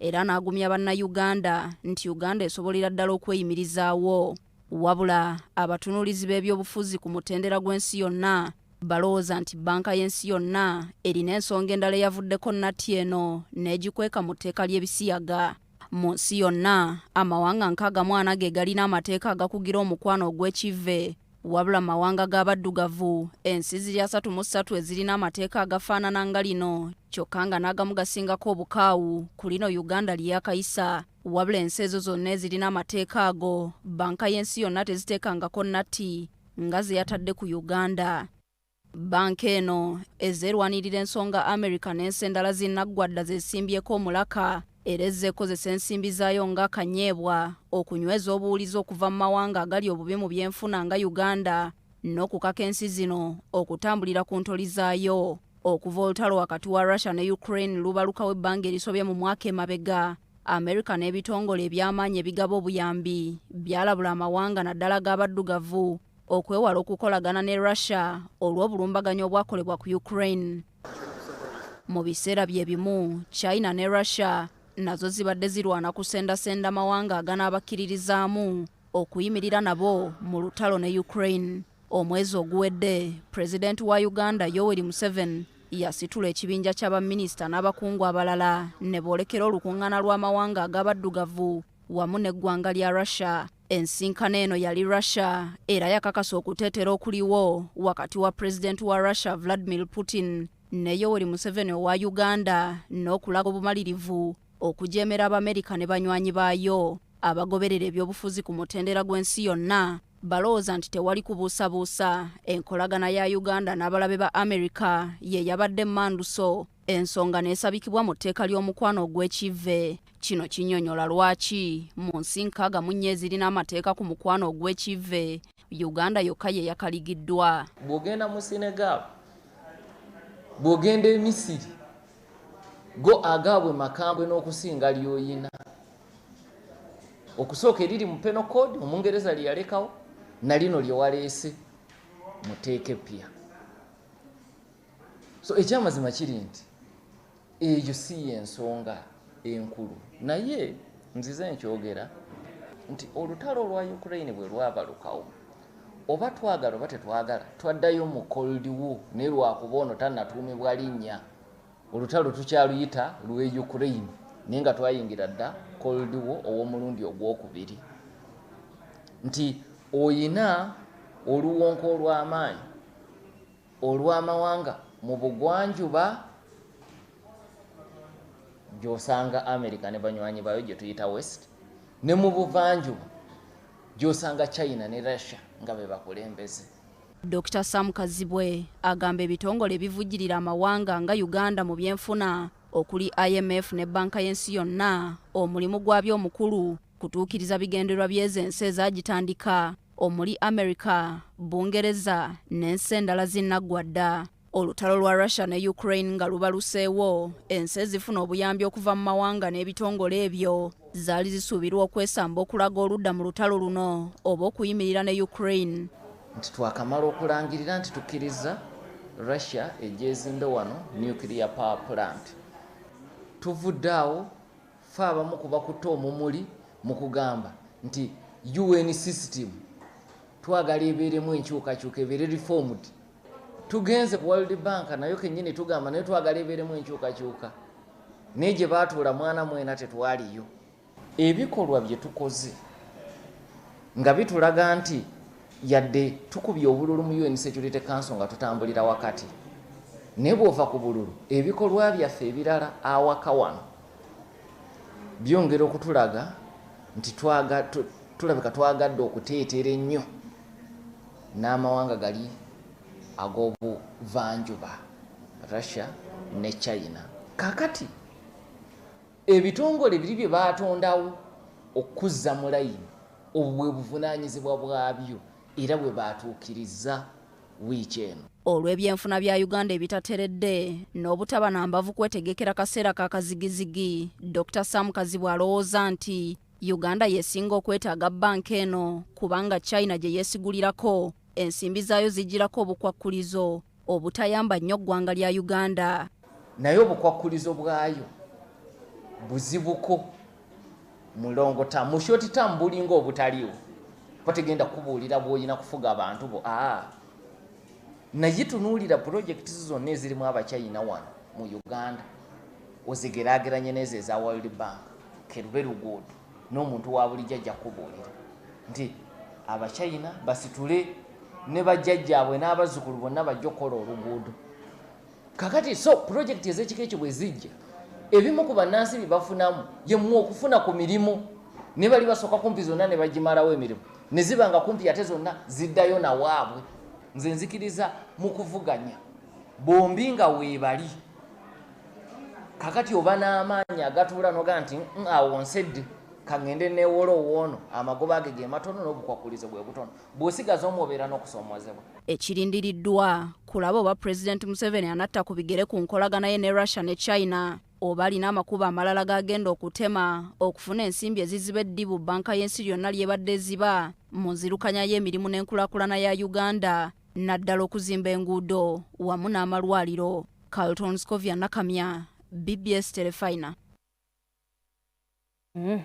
era n'agumya bannayuganda nti Uganda esobolera ddala okweyimirizaawo. Wabula abatunuulizi b'ebyobufuzi ku mutendera gw'ensi yonna balowooza nti bbanka y'ensi yonna erina ensonga endala eyavuddeko nnatti eno n'egikweka mu tteeka ly'ebisiyaga. Mu nsi yonna, amawanga nkaaga mu ana ge galina amateeka agakugira omukwano ogw'ekivve Wabula mu mawanga g'abaddugavu ensi ziri asatu mu ssatu ezirina amateeka agafaanana nga lino kyokka nga n'agamu gasingako obukaawu ku lino uganda lyeyakayisa wabula ensi ezo zonna ezirina amateeka ago banka y'ensi yonna teziteekangako natti nga ze yatadde ku uganda Bbanka eno ezze erwanirira ensonga America n'ensi endala zinnaggwa dda zeesimbyeko omulaka era ezze ekozesa ensimbi zaayo nga kanyeebwa okunyweza obuwulize okuva mu mawanga agali obubi mu byenfuna nga Uganda n'okukaka ensi zino okutambulira ku ntoli zaayo. Okuva olutalo wakati wa Russia ne Ukraine lubalukawo ebbanga erisobye mu mwaka emabega, America n'ebitongole eby'amaanyi ebigaba obuyambi byalabula amawanga naddala g'abaddugavu okwewala okukolagana ne Russia olw'obulumbaganyi obwakolebwa ku Ukraine. Mu biseera bye bimu, China ne Russia nazo zibadde zirwana kusendasenda mawanga aganaabakkiririzaamu okuyimirira nabo mu lutalo ne Ukraine. Omwezi oguwedde, Pulezidenti wa Uganda Yoweri Museveni yasitula ekibinja kya baminisita n'abakungu abalala ne boolekera olukuŋŋaana lw'amawanga ag'abaddugavu wamu n'eggwanga lya Russia. Ensinkano eno yali Russia era yakakasa okuteetera okuliwo wakati wa pulezidenti wa Russia Vladimir Putin ne Yoweri Museveni owa Uganda n'okulaga obumalirivu okujeemera Abamerika ne banywanyi baayo. Abagoberera ebyobufuzi ku mutendera gw'ensi yonna balowooza nti tewali kubuusabuusa enkolagana ya Uganda n'abalabe ba Amerika ye yabadde emmanduso ensonga n'esabikibwa mu tteeka ly'omukwano ogw'ekivve kino kinyonyola lwaki mu nsi nkaaga mu nnyo ezirina amateeka ku mukwano ogw'ekivve uganda yokka ye yakaligiddwa bw'ogenda mu senegal bw'ogenda emisiri go agaabwe makambwe n'okusinga lyoyina okusooka eriri mu peno code omungereza lye yalekawo na lino lye waleese muteeka eppya so ekyamazima kiri nti eyo si yensonga enkulu naye nzize nkyogera nti olutalo olwa ukraine bwe lwabalukawo oba twagala oba tetwagala twaddayo mu cold war naye lwakuba ono tanatuumibwa linnya olutalo tukyaluyita lwe ukraine naye nga twayingira dda cold war ow'omulundi ogwokubiri nti oyina oluwonko olw'amaanyi olw'amawanga mu bugwanjuba gy'osanga america ne banywanyi baayo gye tuyita west ne mu buvanjuba gy'osanga china ne russia nga be bakulembeze dr sam kazibwe agamba ebitongole ebivujjirira amawanga nga uganda mu byenfuna okuli imf ne banka y'ensi yonna omulimu gwabyo omukulu kutuukiriza bigendererwa by'ezo ensi ezagitandika omuli America, Bungereza n'ensi endala zinaggwa dda. Olutalo lwa Russia ne Ukraine nga lubaluseewo, ensi ezifuna obuyambi okuva mu mawanga n'ebitongole ebyo zaali zisuubirwa okwesamba okulaga oludda mu lutalo luno oba okuyimirira ne Ukraine. Nti twakamala okulangirira nti tukkiriza Russia egyezimbe wano nuclear power plant. Tuvudde awo. Ffe abamu ku bakutte omumuli mu kugamba nti UN system twagala ebeeremu enkyukakyuka ebeere reformed. Tugenze ku World Bank nayo kennyini tugamba naye twagala ebeeremu enkyukakyuka naye gye baatuula mwana mwena tetwaliyo. Ebikolwa bye tukoze nga bitulaga nti yadde tukubye obululu mu UN Security Council nga tutambulira wakati naye bw'ova ku bululu ebikolwa byaffe ebirala awaka wano byongera okutulaga nti tulabika twagadde okuteetera ennyo n'amawanga gali ag'obuvanjuba russia ne china kakati ebitongole biri bye baatondawo okukuzza mu layini obwo bwe buvunaanyizibwa bwabyo era bwe baatuukirizza wiiki eno. olw'ebyenfuna bya uganda ebitateredde n'obutaba na mbavu kwetegekera kaseera ka kazigizigi dr sam kazibwe alowooza nti uganda yesinga okwetaaga banka eno kubanga china gye yeesigulirako ensimbi zaayo zijjirako obukwakkulizo obutayamba nnyo ggwanga lya uganda naye obukwakkulizo bwayo buzibuko mulongo tamu shoti tamu bulinga obutaliwo bategenda kubuulira bwolina kufuga abantu bo aa ah. naye tunuulira pulojekiti zo zonna ezirimu abachina wano mu uganda ozigerageranye nezo eza world bank kerube luguudo n'omuntu wa bulijjo ajja kukubuulira nti abachina basitule ne bajjajjaabwe n'abazzukulu bonna bajja okukola oluguudo kakati so pulojekiti ez'ekika ekyo bwe zijja ebimu ku bannansi bye bafunamu yemu okufuna ku mirimu ne bali basooka kumpi zonna ne bagimalawo emirimu ne ziba nga kumpi ate zonna ziddayo nawaabwe nze nzikiriza mu kuvuganya bombi nga weebali kakati oba n'amaanyi agatuula noga nti mm, awo nsedde kaŋŋende neewola owoono amagoba age ge matono n'obukwakulizo bwe butono bw'osigaza omu obeera n'okusoomoozebwa ekirindiriddwa kulaba oba pulezidenti museveni anatta ku bigere ku nkolagana ye ne russia ne china oba alina amakubo amalala g'agenda okutema okufuna ensimbi eziziba eddibu bbanka y'ensi lyonna ly'ebadde eziba mu nzirukanya y'emirimu n'enkulakulana ya uganda naddala okuzimba enguudo wamu n'amalwaliro Carlton Scovia Nakamya, BBS Telefina. Mm.